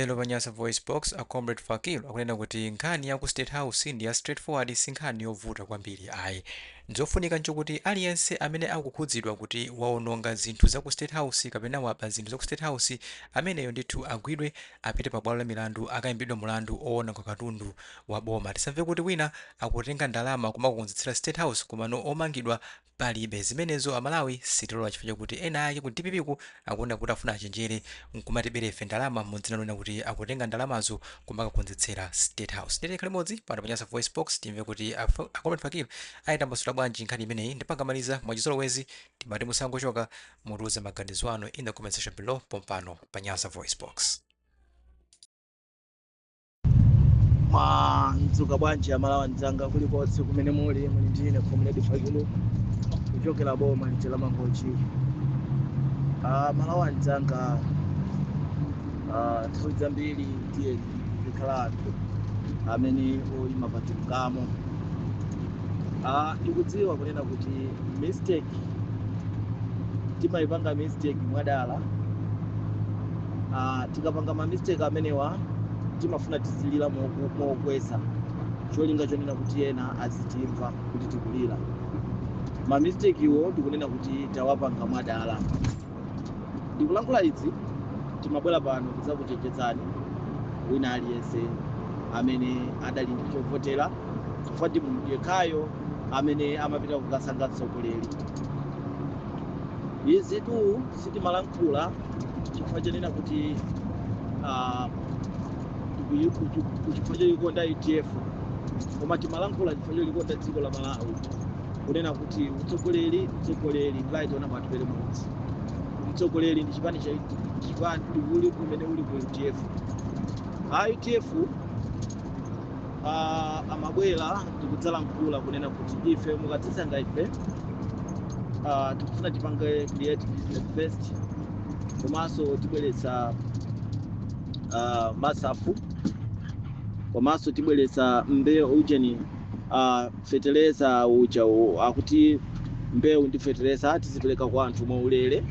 Lero pa Nyasa VoiceBox, a Comrade Fakil akunena kuti nkhani ya ku State House ndi ya straight forward si nkhani yovuta kwambiri ayi. Chofunika nchokuti aliyense amene akukhudzidwa kuti waononga zinthu za ku State House kapena waba zinthu za ku State House, ameneyo ndithu agwidwe apite pa bwalo la milandu akaimbidwe mulandu owononga katundu wa boma. Tisamve kuti wina akutenga ndalama kumakakonzetsera State House komano omangidwa Palibe zimenezo amalawi sitilola chifukwa chakuti ena ake ku dpp ku akuwona kuti afuna achenjere nkumatibera ife ndalama mu dzina lonena kuti akutenga ndalamazo kumakakonzetsera state house ndiye tikhale limodzi pano pa Nyasa VoiceBox timve kuti a Comrade Fakil ayitambasula bwanji nkhani imeneyi ndipo akamaliza mwachizolowezi timati musangochoka mutiuze maganizo anu in the comment section below pompano pa Nyasa VoiceBox. mwadzuka bwanji amalawi anzanga kulikonse kumene muli muli ndi ine comrade fakil kuchokera boma lija la mangochi Ah, amalawi anzanga ah, nthawi zambiri tiyeni tikhala anthu amene oyima pa chilungamo Ah, ndikudziwa kunena kuti mistake timayipanga mistake mwadala ah, tikapanga ma mistake amenewa timafuna tizilira moku- mokweza cholinga chonena kuti ena azitimva kuti tikulira ma mistake iwo ndikunena kuti tawapanga mwadala ndikulankhula izi timabwera pano kudzakuchenjezani wina aliyense amene adali ndi chovotera chifukwa ndi munthu yekhayo amene amapita kukasankha mtsogoleri izi tu sitimalankhula kulankhula chifukwa chonena kuti ah, tikuyi- kuti- kuti chifukwa choyikonda udf koma timalankhula chifukwa cholikonda dziko la malawi kunena kuti utsogoleri utsogoleri right honourable atupele muluzi utsogoleri ndi chipani cha chipani uli kumene uli ku udf a udf Ah, amabwera ndikudzalankhula kunena kuti ife mukatisankha ife ah, tikufuna tipange create business first komanso tibweretsa ah, masaf komanso tibweretsa mbewu ujeni ah, Feteleza uja akuti mbewu ndi feteleza tizipereka kwa anthu mwaulele.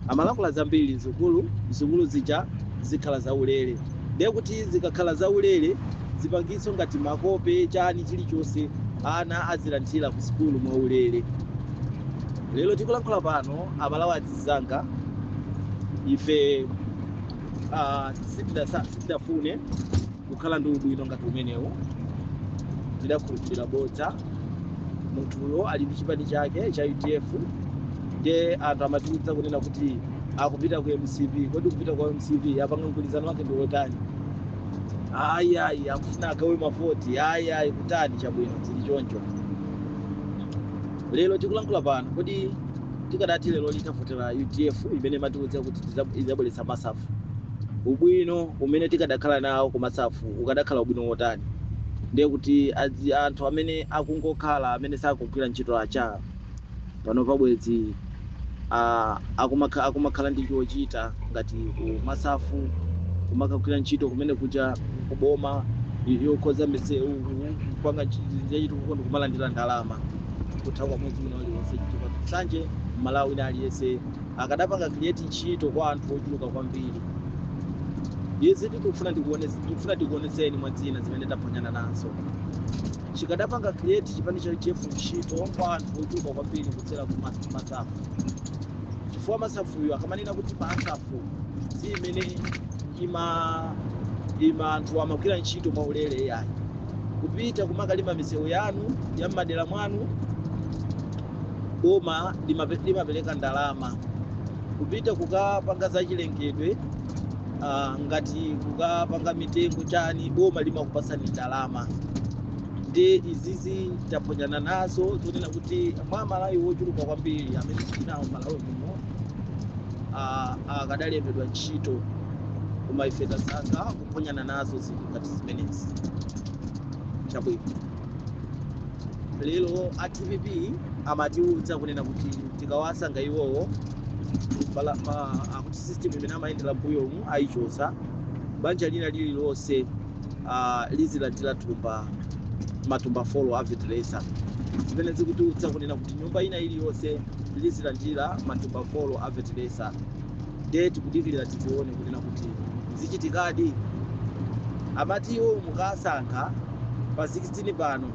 Amalankhula zambiri sukulu, sukulu zija zikhala zaulele. Ndiye kuti zikakhala zaulele zipangizo ngati makope chani chilichonse ana azilandila ku sukulu mwaulele. Lero tikulankhula pano amalawi azinzanga ife ah, sitidasa, sitidafune. kukhala ndi ubwino ngati umenewu tidakhulupirira bodza munthuyo ali ndi chipani chake cha udf ndiye anthu amatiuza kunena kuti akupita ku mcp kodi kupita kwa mcp apanga mgwirizano wake ndi wotani ayi ayi akufuna agawe mavoti ayi ayi kutani chabwino zili choncho lero tikulankhula pano kodi tikadati lero litavotera udf imene matiuza kuti tiza- izabweretsa masafu ubwino umene tikadakhala nawo ku masafu ukadakhala ubwino wotani ndiye kuti adzi- anthu amene akungokhala amene sakugwira ntchito acha pano pabwezi ah, akumakha- akumakhala ndi chochita ngati ku masafu kumakagwira ntchito kumene kuja kuboma yokonza misewu kupanga ntchito zachitukuko ndikumalandira ndalama kutha kwa mwezi wina uliwonse chifukwa nsanje mmalawi wina aliyense akadapanga create ntchito kwa anthu ochuluka kwambiri izi tikufuna tikuone- tikufuna tikuonetseni mwa zina zimene taphonyana nazo chikadapanga create chipani cha udf ntchito kwa anthu ochuluka kwambiri kudzera ku mas- masafu chifukwa masafuyo akamanena kuti masafu si imene ima ima anthu amagwira ntchito mwaulere yayi kupita kumakalima misewu yanu ya m'madera mwanu boma limape- limapereka ndalama kupita kukapanga zachilengedwe ah, ngati kukapanga mitengo chani boma limakupatsani ndalama ndi izizi taphonyana nazo zonena kuti mwa malawi wochuluka kwambiri amene tinawo malawi muno ah, akadalembedwa ntchito koma ife tasankha kuphonyana nazo zinthu ngati zimenezi chabwino lero a dpp amatiuza kunena kuti tikawasankha iwowo bala- ma- akuti system imene amayendera mbuyomu ayichotsa banja lina lililonse ah, lizilandira thumba matumba folo a feteleza zimene zikutiuza kunena kuti nyumba ina iliyonse lizilandira matumba folo a feteleza ndiye tikudikirira tizione kunena kuti zichitikadi amati iwo mukasankha pa 16 pano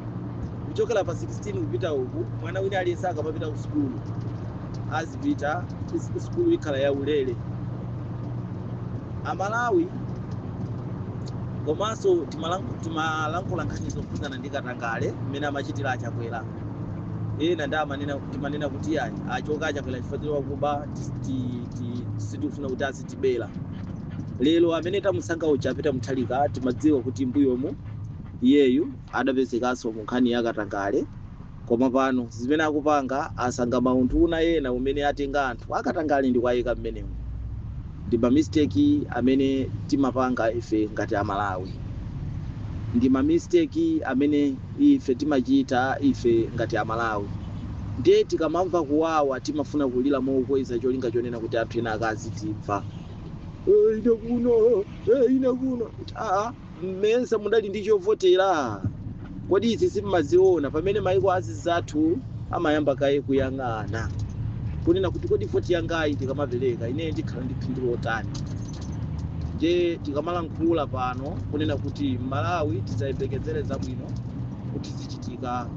kuchokera pa 16 kupita uku mwana wina aliyense akamapita ku sukulu azipita is- sukulu ikhala ya ulere amalawi komanso timalank- timalankhula nkhani zokhudzana ndi katangale mmene amachitira achakwera ena ndi amanena timanena kuti ayi achoka achakwera chifukwa choti wakuba ti- ti- sitikufuna kuti azitibera lero amene tamusankha uja apita muthalika timadziwa kuti mbuyomu iyeyu adapezekanso mu nkhani ya katangale koma pano zimene akupanga asankha maunduna ena umene atenga anthu akatangale ndi kuwayika mmenemo ndi mamisteki amene timapanga ife ngati amalawi ndi mamisteki amene ife timachita ife ngati amalawi Ndiye tikamamva kuwawa timafuna kulira mokweza cholinga chonena kuti anthu ena akazitimva. "Eh, ine kuno, eh, ine kuno. Aa, mmesa mudali ndi chovotera? Kodi izi simmaziona pamene maiko anzathu amayamba kaye kuyang'ana kunena kuti kodi voti yangayi ndikamapereka ineyo ndikhala ndi phindu lotani? Ndiye tikamalankhula pano kunena kuti Malawi tisayembekezere zabwino kuti zichitika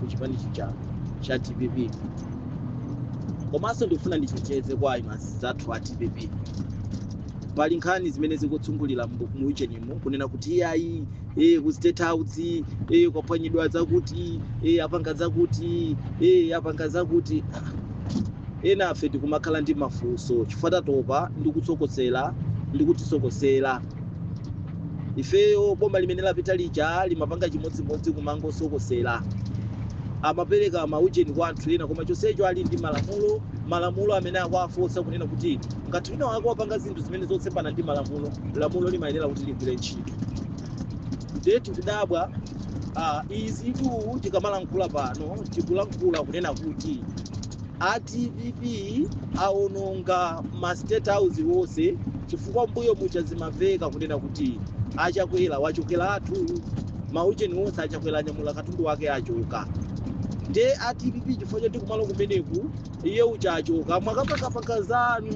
ku chipani chija cha dpp komanso ndikufuna ndichenjeze kwa anzathu a dpp pali nkhani zimene zikuzungulira mu mu ujenimu kunena kuti iyayi eh, ku state house eh, kwaphwanyidwa zakuti eh, apanga zakuti eh, apanga zakuti enafe tikumakhala ndi mafunso chifukwa tatopa ndikusokosera ndikutisokosera ifeyo boma limene lapita lija limapanga chimodzimodzi kumangosokosera amapereka maujeni kwa anthu ena koma chonsecho ali ndi malamulo malamulo amene akuwafotsa kunena kuti ngati wina wake wapanga zinthu zimene zosemphana ndi malamulo lamulo limayenera kuti ligwire ntchito nde tikudabwa ah, izi tu tikamalankhula pano tikulankhula kunena kuti a dpp awononga ma state house wonse chifukwa mbuyo muja zimaveka kunena kuti achakwera achokeratu maujeni wonse achakwera anyamula katundu wake achoka nde a dpp chifukwa choti kumalo kumeneku iye uja achoka mwakapakapaka zanu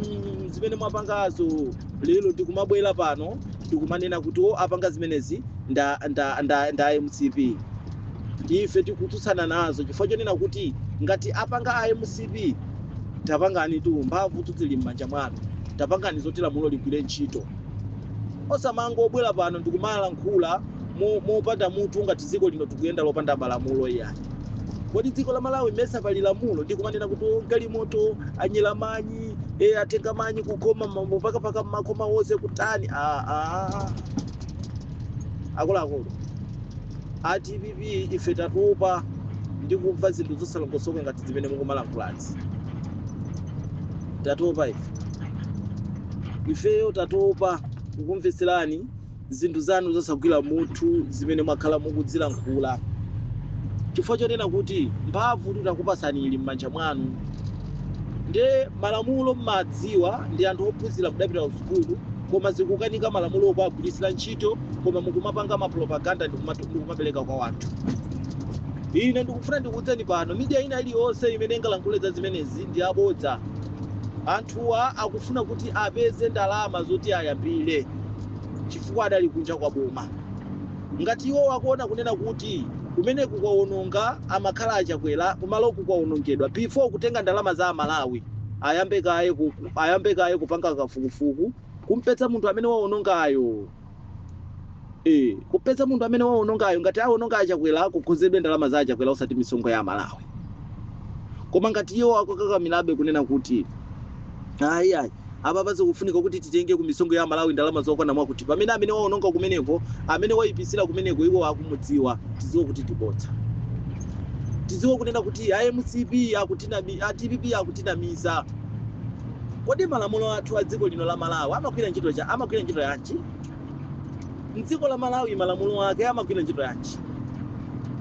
zimene mwapangazo lero ndikumabwera pano ndikumanena kuti o apanga zimenezi nda, nda, nda, nda mcp ife tikutsutsana nazo chifukwa chonena kuti ngati apanga a mcp tapanganitu mphamvutu zili m'manja mwanu tapangani zoti lamulo ligwire ntchito osamangobwera pano ndikumalankhula mo- mopanda mutu ngati dziko lino likuyenda lopanda malamulo iyayi kodi dziko la malawi mesa pali lamulo ndi kumanena kuti "Oh, galimoto anyera manyi e, atenga manyi kukoma mamo pakapaka mmakhoma wonse kutani ah, ah. akuluakulu A dpp ife tatopa ndi kumva zinthu zosalongosoka ngati zimene mukumalankhulazi. Tatopa ife. Ifeyo tatopa kukumvetserani zinthu zanu zosagwira mutu zimene mwakhala mukudzilankhula. Chifukwa chonena kuti mphamvu titakupatsani ili m'manja mwanu. Nde malamulo mumadziwa ndi anthu ophunzira mudapita kusukulu koma zikukanika malamulowo kuwagwiritsira ntchito. koma mukumapanga mapropaganda ndikumapereka kwa wanthu ine ndikufuna ndikuudzeni pano midiya ina iliyonse imene ingalankhule za zimenezi ndi abodza anthuwa akufuna kuti apeze ndalama zoti ayambire chifukwa adali kunja kwa boma ngati iwo akuona kunena kuti kumeneku kwawononga amakhala achakwera kumaloku kwawonongedwa before kutenga ndalama za amalawi ayambe kaye ku- ayambe kaye kupanga kafukufuku Kumpeza munthu amene waonongayo ee kumpeza munthu amene waonongayo ngati aononga achakwera kukonzedwe ndalama za achakwera osati misonkho ya amalawi koma ngati iwo akukakamirabe kunena kuti ayi ayi apapa zikufunika kuti titenge ku misonkho ya amalawi ndalama zokwana mwakuti pamene amene waononga kumeneko amene waipisira kumeneko iwo akumudziwa tiziwe kuti ndibodza tiziwe kunena kuti a mcp akutinami- a dpp akutinamiza Kodi malamulo athu a dziko lino la Malawi amagwira ntchito cha- amagwira ntchito yanji? Mdziko la Malawi malamulo ake amagwira ntchito yanji?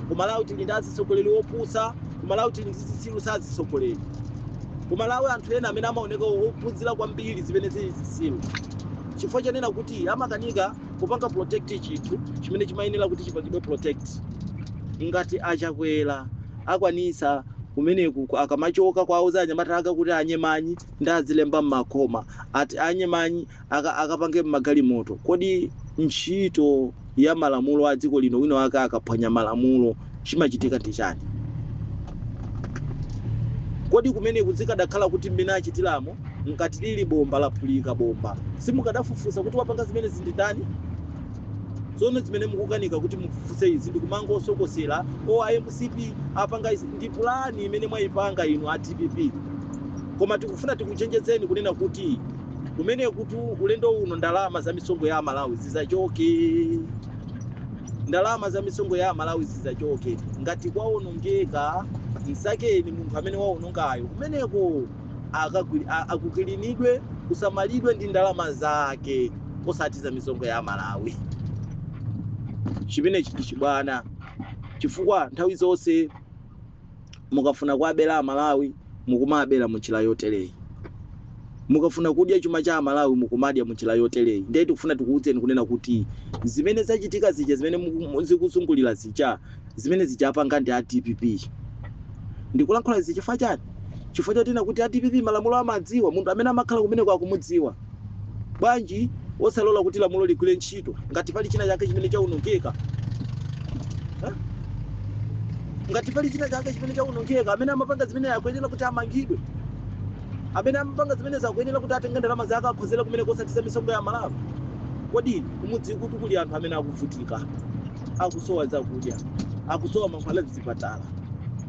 Ku Malawi tili ndi azitsogoleri opusa, ku Malawi tili ndi zitsiru za azitsogoleri. Ku Malawi anthu ena amene amaoneka ophunzira kwambiri zimene zili zitsiru. Chifukwa chonena kuti amakanika kupanga protect chinthu chimene chimayenera kuti chipangidwe protect. Ngati a Chakwera akwanisa kumeneku akamachoka kwauza anyamata ake kuti anye manyi ndi adzilemba mmakoma ati anye manyi aka- akapange mmagalimoto kodi ntchito ya malamulo a dziko lino wina wake akaphwanya malamulo chimachitika ndi chani kodi kumeneku zikadakhala kuti mmene achitiramo ngati lili bomba laphulika bomba simukadafufuza kuti wapanga zimenezi ndi ndani Zoona zimene mukukanika kuti mufufuze izi ndikumangosokosera o a mcp apanga izi ndi pulani imene mwaipanga inu a dpp koma tikufuna tikuchenjezeni kunena kuti kumenekutu ulendo uno ndalama za misonkho ya amalawi zisachoke ndalama za misonkho ya amalawi zisachoke ngati kwaonongeka msakeni munthu amene waonongayo kumeneko akukilinidwe kusamalidwe ndi ndalama zake osati za misonkho ya amalawi chimenechi ndi chibwana chifukwa nthawi zonse mukafuna kuabera amalawi mukumabera munjira yotereyi mukafuna kudya chuma cha amalawi mukumadya munjira yotereyi ndiye tikufuna tikuwudzeni kunena kuti zimene zachitika zija zimene zikuzungulira zija Zimenezija apanga ndi a dpp. Ndikulankhula izi chifukwa chani? Chifukwa choti ena kuti a dpp malamulo amadziwa, munthu amene amakhala kumeneko akumudziwa. Bwanji osalola kuti lamulo ligwire ntchito ngati pali china chake chimene chaonongeka? Eh? Ngati pali china chake chimene chaonongeka, amene anapanga zimenezo akuyenera kuti amangidwe. Amene anapanga zimenezo akuyenera kuti atenge ndalama zake akonzere kumeneko osati za misonkho ya aMalawi. Kodi kumudzi kutu kuli anthu amene akuvutika. akusowa zakudya akusowa mankhwala mzipatala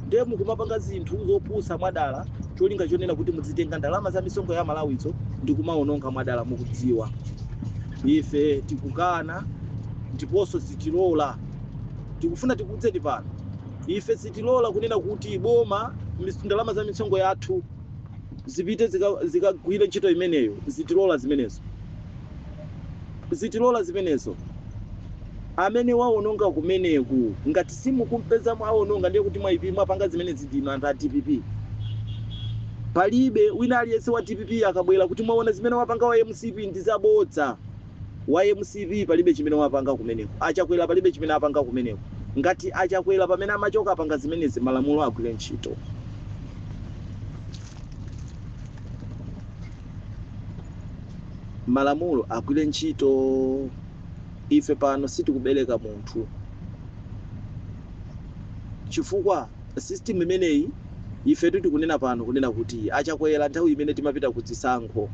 ndiye mukumapanga zinthu zopusa mwadala cholinga chonena kuti mudzitenga ndalama za misonkho ya amalawizo ndi kumaononga mwadala mukudziwa ife tikukana ndiponso sitilola tikufuna tikuwudzeni pano ife sitilola kunena kuti boma mis- ndalama za misonkho yathu zipite zikagwire zika zikagwire ntchito imeneyo sitilola zimenezo sitilola zimenezo amene waononga kumeneku ngati simukumpeza waononga ndiye kuti mwaipi mwapanga zimenezi ndinu anthu a dpp palibe wina aliyense wa dpp akabwera kuti mwaona zimene wapanga wa mcp ndi zabodza wa mcp palibe chimene wapanga kumeneko achakwera palibe chimene apanga kumeneko ngati achakwera pamene amachoka apanga zimenezi malamulo agwire ntchito malamulo agwire ntchito ife pano sitikubereka munthu chifukwa system imeneyi ifetu tikunena pano kunena kuti achakwera nthawi imene timapita ku zisankho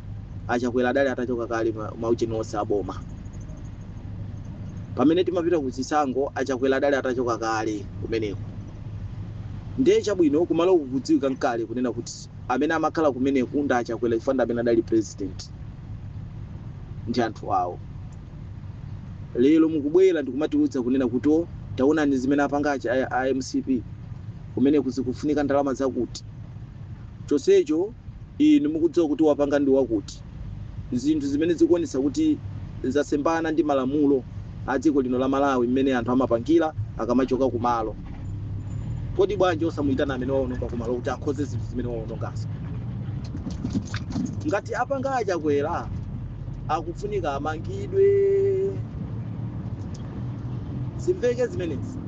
achakwera adali atachoka kale ma- maujeni onse aboma pamene timapita ku zisankho achakwera adali atachoka kale kumeneko ndiye chabwino kumalo kukudziwika kale kunena kuti Amene amakhala kumeneku ndi achakwera chifukwa ndi amene adali president ndi anthu awo. Lero mukubwera ndikumatiudza kunena kuti o taonani zimene apanga a mcp kumeneku zikufunika ndalama zakuti chonsecho inu mukudziwa kuti wapanga ndi wakuti. zinthu zimene zikuonetsa kuti zasemphana ndi malamulo a dziko lino la Malawi mmene anthu amapangira akamachoka kumalo. Kodi bwanji osamuitana amene waononga kumalo kuti akonze zinthu zimene waonongazo? Ngati apanga a Chakwera akufunika amangidwe. Zimveke zimenezi.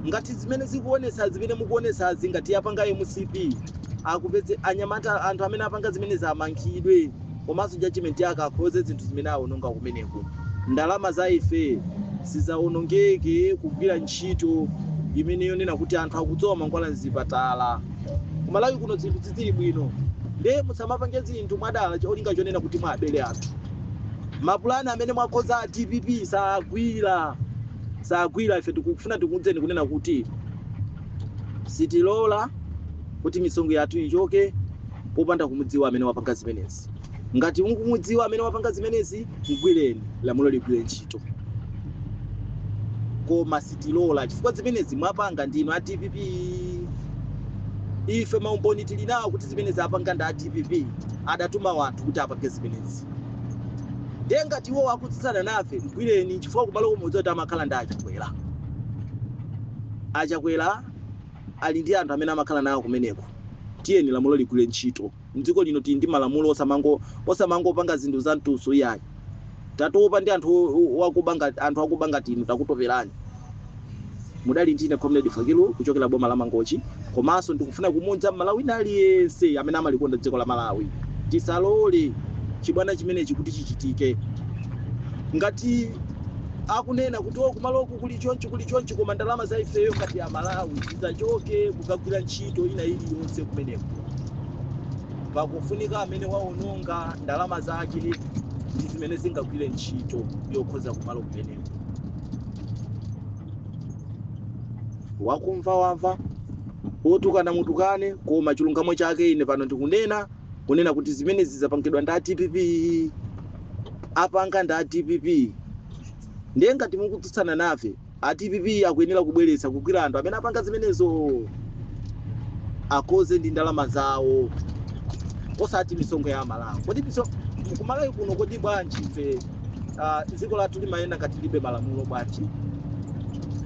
Ngati zimene zikuonetsa zimene mukuonetsazi ngati yapanga mcp akupedze anyamata anthu amene apanga zimenezi amangidwe komanso judgment yake akonze zinthu zimene awononga kumeneko ndalama za ife zisawonongeke kugwira ntchito imene yonena kuti anthu akusowa mankhwala mzipatala kumalawi kuno zinthu sizili bwino nde musamapange zinthu mwadala cholinga chonena kuti muwabele anthu mapulani amene mwakonza a dpp sagwira sagwira ife tikufuna tikuuzeni kunena kuti Sitilola kuti misonkho yathu ichoke popanda kumudziwa amene wapanga zimenezi. Ngati mukumudziwa amene wapanga zimenezi, mgwireni, lamulo ligwire ntchito. Koma sitilola chifukwa zimenezi mwapanga ndinu a dpp. Ife maumboni tili nawo kuti zimenezi apanga ndi a dpp, adatuma wanthu kuti apange zimenezi. ndiye ngati iwo akutsutsana nafe mgwireni chifukwa kumalo mukudziwa kuti amakhala ndi achakwera achakwera ali ndi anthu amene amakhala nawo kumeneko tiyeni lamulo ligwire ntchito mdziko lino tili ndi malamulo osamango osamangopanga zinthu za mtudzu iyayi tatopa ndi anthu o- o- wakuba ngati anthu akuba ngati inu takutoperani munali ndine comrade fakilu kuchokera boma la mangochi komanso ndikufuna kumuuza mmalawi wina aliyense amene amalikonda dziko la malawi tisalole chibwana chimenechi kuti chichitike ngati akunena kuti o kumaloku kuli chonchi kuli chonchi koma ndalama za ifeyo ngati amalawi zisachoke kukagwira ntchito ina iliyonse kumeneko pakufunika amene waononga ndalama zake ndi zimene zingagwire ntchito yokonza kumalo kumeneko wakumva wamva otukana mutukane koma chilungamo chake ine pano ndikunena kunena kuti zimenezi zapangidwa ndi a dpp apanga ndi a dpp ndiye ngati mukutsutsana nafe a dpp akuyenera kubweretsa kugwira anthu amene apanga zimenezo akonze ndi ndalama zawo osati misonkho ya amalawi kodi miso- kumalawi kuno kodi bwanji ife ah, dziko lathu limayenda ngati lilibe malamulo bwanji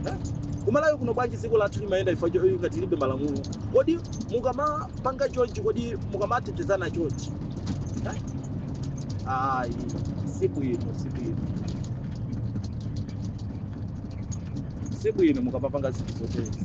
Eh? kumalawi kuno bwanji dziko lathu limayenda ifa cho- ngati lilibe malamulo kodi mukamapanga chonchi kodi mukamatetezana chonchi Eh? ayi si bwino si bwino si bwino mukamapanga zinthu zotezi